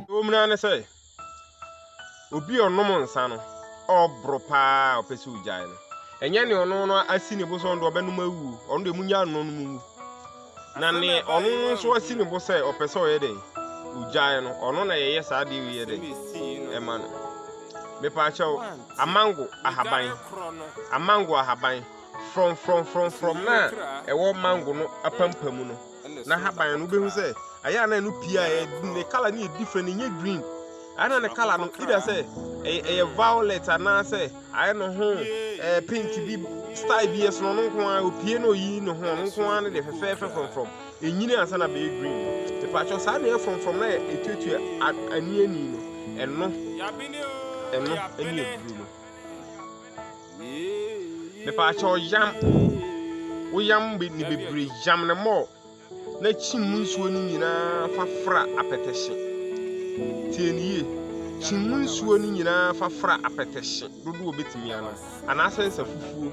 Ewom ara ne sɛ, obi a ɔnom nsa no, ɔreboro paa a ɔpɛ sɛ ogyae no, ɛnyɛ nea ɔno no asi ne bo sɛ ɔno deɛ ɔbɛnom awu, ɔno deɛ munya nnom no mu. Na nea ɔno no nso asi ne bo sɛ ɔpɛ sɛ ɔyɛ dɛn? Ogyae no, ɔno na yɛyɛ saa adeɛ wei yɛ dɛn? Ɛma no. Mepaakyɛw, amango ahaban, amango ahaban. frɔmfrɔmfrɔmfrɔm no a ɛwɔ mango no apampam no na haban no wobɛhu sɛ ayɛ a na ɛno pii a ne kala no yɛ different ɛnyɛ green ana ne kala no either sɛ ɛyɛ violet anaasɛ ayɛ no ho ɛɛ pink bi style bi ɛsono no nko ara opie na oyi ne ho no nko ara no de fɛfɛɛfɛ frɔmfrɔm ɛnyini ansa na bɛyɛ green mepakyɛ saa na ɛyɛ frɔmfrɔm na ɛtuatua aniani no ɛno ɛno ɛne ɛduru no Mepaakyɛw yam. Wo yam be ne bebree yam no more na kyim mu nsuo no nyinaa fa fra apɛtɛhye. Tie no yie. Kyim mu nsuo no nyinaa fa fra apɛtɛhye dodoɔ obetumi ano anaasɛ nsa fufuo.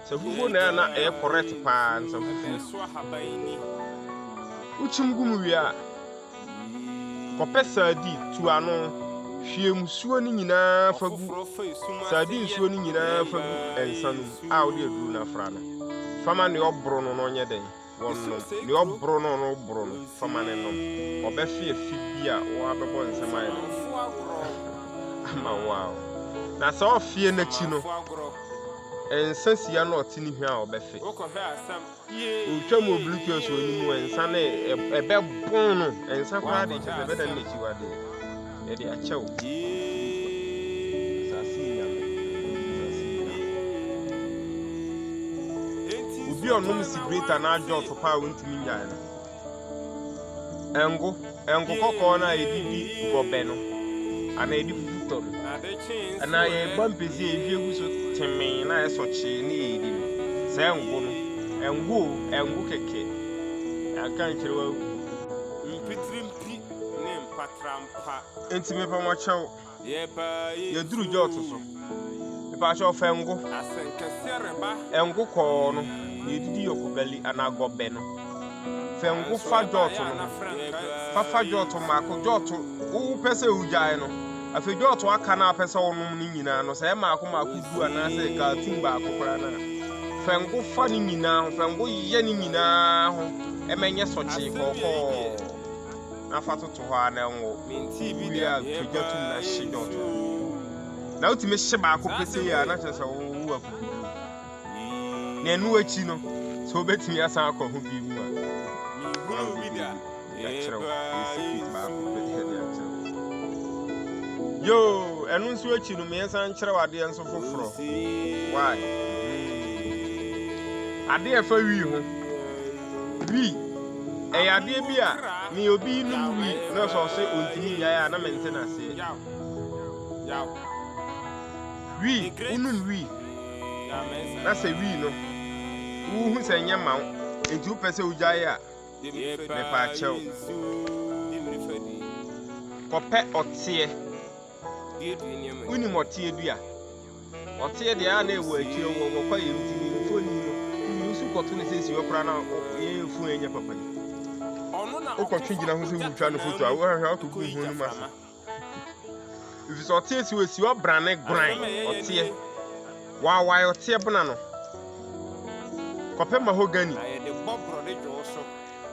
Nsa fufuo na ɛyɛ na ɛyɛ correct paa nsa fufuo. Wokyim gu mu wie a. Kɔpɛ sadi, tu ano. Hwie musuo no nyinaa fa gu sadi nsuo no nyinaa fa gu nsa no mu a wode aduro no afra no. Fama ne ɔboro no na ɔnyɛ dɛn? Wɔnom. Ne ɔboro no no boro no, fama ne nom. Ɔbɛfe afi bi a wɔabɛbɔ nsɛm ayɛ no ama wo a. Na sɛ ɔfeɛ n'akyi no, nsa sia na ɔte ne hwa a ɔbɛfe. Otwa mu obirikyi ɔsɔ anim wɔ nsa na ɛbɛbɔn no nsa koraa de kyɛ sɛ ɛbɛdan n'akyiwade ɛde akyɛw asase nyame asase nyame obi ɔnom sigreta na adwɔso paa wontumi nyae no Ngo, ngo kɔkɔɔ no a yɛde di gɔbɛ no, anaa yɛde fufu tɔ no, anaa yɛba mpesi a yɛhwie gu so temee na ɛsɔ kyee ne yɛdi no. Saa ngo no, ngo o, ngo kɛkɛ. Yɛaka nkyerɛ wo agu. Mpitirmpi ne mpatrampa. Enti mepa mo kyɛw. yɛduru Jot so mepakyɛ ɔfa ngo ngo kɔɔ no yɛdidi yɔkobali anaa gɔbɛ no fɛ ngo fa Jot no fafa Jot mmaako Jot wopɛ sɛ wogyae no afei Jot aka no a pɛ sɛ wonom no nyinaa no sɛ yɛ mmaako mmaako du anaasɛ kaatum baako koraa no a fɛ ngo fa no nyinaa ho fɛ ngo yɛ no nyinaa ho ɛmɛnyɛ sɔkyee kɔkɔɔ na fa toto hɔ ara na ɛnwo. Wowie a, twa gya tom na hye dɔt no. Na wotumi hye baako petee a, na kyerɛ sɛ wowo akokoduru. Na ɛno akyi no, sɛ wobɛtumi asan akɔ ho bi mu a, na wode bi akyerɛ wo. Ɛyɛ secret baako pɛ de akyerɛ wo. Yoo, ɛno nso akyi no, meɛsan nkyerɛ wo adeɛ nso foforɔ. Why? Adeɛ ɛfa wii ho. Wi, ɛyɛ adeɛ bi a ne obi nom wi na sɛ ɔse ɔntumi nyae a na mente no aseɛ. Wi, wonom wi na sɛ wi no wohu sɛ nyɛ ma wo enti wopɛ sɛ wogyae a mepaakyɛw. Kɔpɛ ɔteɛ. Wonim ɔteɛ dua? Wɔtee deɛ a na ɛwɔ akyire hɔ, wɔkɔ yɛn ntini mfoni no, woyi wo so kɔto no sɛ esi hɔ koraa na yɛn yɛn fun ɛnyɛ papa yi. Wokɔtwe gyina ho sɛ wotwa no foto a, wohwɛ akɔgu wo ho no mu ase. Ɛfiri sɛ ɔteɛ si hɔ, esi hɔ brane goran, ɔteɛ. Waawae ɔteɛ bona no, kɔpɛ mahogany.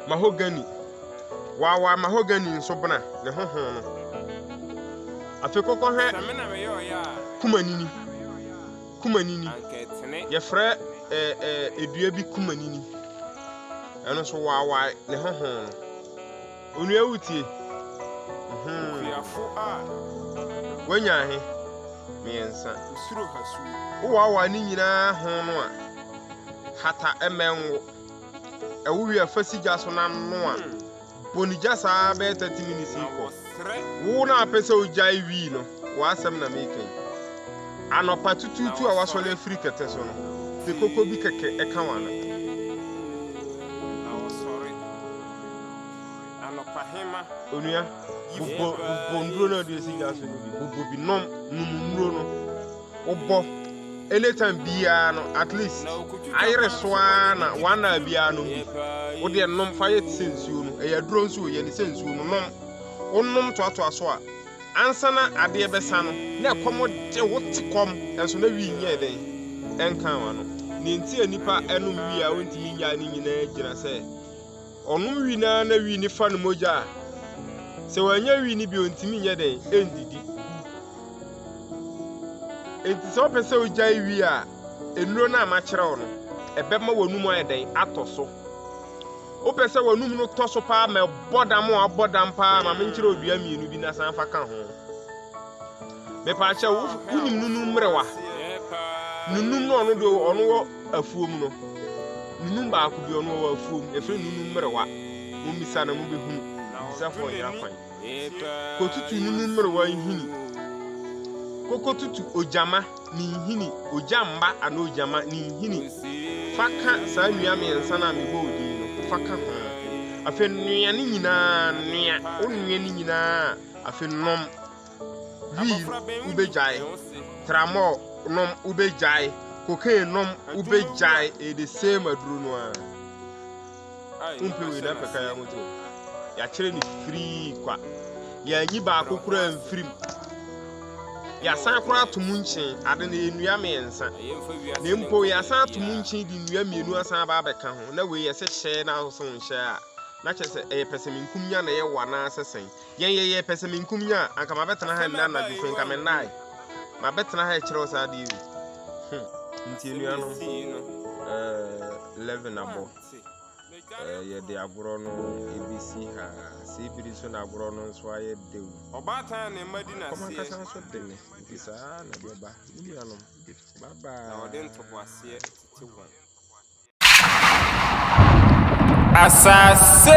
mahogani. Wɔawaa mahogani nso bena ne ho ho no. Afei kɔkɔ hwɛ kumanini. Kumanini. Yɛfrɛ ɛɛ eh, ɛɛ eh, edua bi kumanini. Ɛno nso wɔawaa ne ho ho no. Onua wutie. Mhm. Wanya ahe? Mmiɛnsa. Wowaawa ne nyinaa ho no a, hata mmɛnwo. Ɛwo wia fa si gya so na noa. Bɔ ne gya saa ara bɛyɛ 30 minutes yi kɔ. Wo na apɛ sɛ wogyae wii no, w'asɛm na meka yi. Anɔpa tutuutu a wasɔre afiri kɛtɛ so no, pe koko bi kɛkɛ ɛka w'ano. Onua, bobɔ nnuro no a wode asi gya so no bi, bobɔ bi nom, nom nnuro no. wobɔ anytime biara no at least ayere so ara na one hour biara nom bi wodeɛ nom fa yɛ te sɛ nsuo no ɛyɛ aduro nso o yɛ ne sɛ nsuo no nom wonom toatoa so a ansa na adeɛ bɛsa no na ɛkɔm de wo te kɔm nso na wii nyɛɛ dɛn ɛnka wano nea nti a nipa ɛnom wii a wontumi nyaa ne nyinaa gyina sɛ Ɔnom wi no ara na wi no fa no mogya a, sɛ wannya wi no bi ontumi nyɛ dɛn ndidi. Enti sɛ wopɛ sɛ wogyae wi a, nnuro no a makyerɛ wo no, ɛbɛma w'anum ayɛ dɛn atɔ so. Wopɛ sɛ w'anum no tɔ so paa ma ɛbɔ dam a abɔ dam paa ma menkyerɛ odua mmienu bi na san fa ka ho. Mepaakyɛ wo wonim nunu mmerewa. Nunum no ɔno do ɔno wɔ afuom no. Nunum baako bi ɔno wɔ afuom. Efiri nunum mmerewa. Mo misa na mo bɛ hunu. Bisafo nyina kwan. Kotutu nunum mmerewa nhini. Koko tutu ogyama ne nhini, ogya mma anaa ogyama ne nhini. Fa ka saa nnua mmiɛnsa no a mebɔ wo din no, fa ka ho. Afei noa ne nyinaa, noa, wo noa ne nyinaa, afei nom. Weed wobɛgyae, tramɔl nom wobɛgyae, cocaine nom wobɛgyae, ɛyɛ the same aduro no ara. Wompɛ wei na mpɛ kan ahotuo. Yɛakyerɛ no firii kwa. Yɛanyi baako koraa mfirim. Yɛasan koraa ato mu nkyen, ade no yɛ nnua mmiɛnsa. Na mpo yɛasan ato mu nkyen de nnua mmienu asan aba abɛka ho. Na wei yɛsɛ hyɛ na ahosuo nhyɛ a. Na kyerɛ sɛ ɛyɛ pɛsɛmenkum nya na ɛyɛ wɔ anaasɛ sɛn. Yɛn yɛyɛ pɛsɛmenkominya a anka mabɛtena ha nnɛ anadwo fei nka mennae mabɛtena ha ɛkyerɛ wo saa adeɛ yi hmm. nti anuanom eh, 11 abɔ eh, yɛde agorɔ no ɛbɛsi ha sɛ ɛbiri nso na agorɔ no nso ayɛ dew ɔbaatan ne mma di naseɛ nso de ne nti saa na ɛbɛba ne nuanom babaa na ɔde ntoboaseɛ tete wɔn Asase.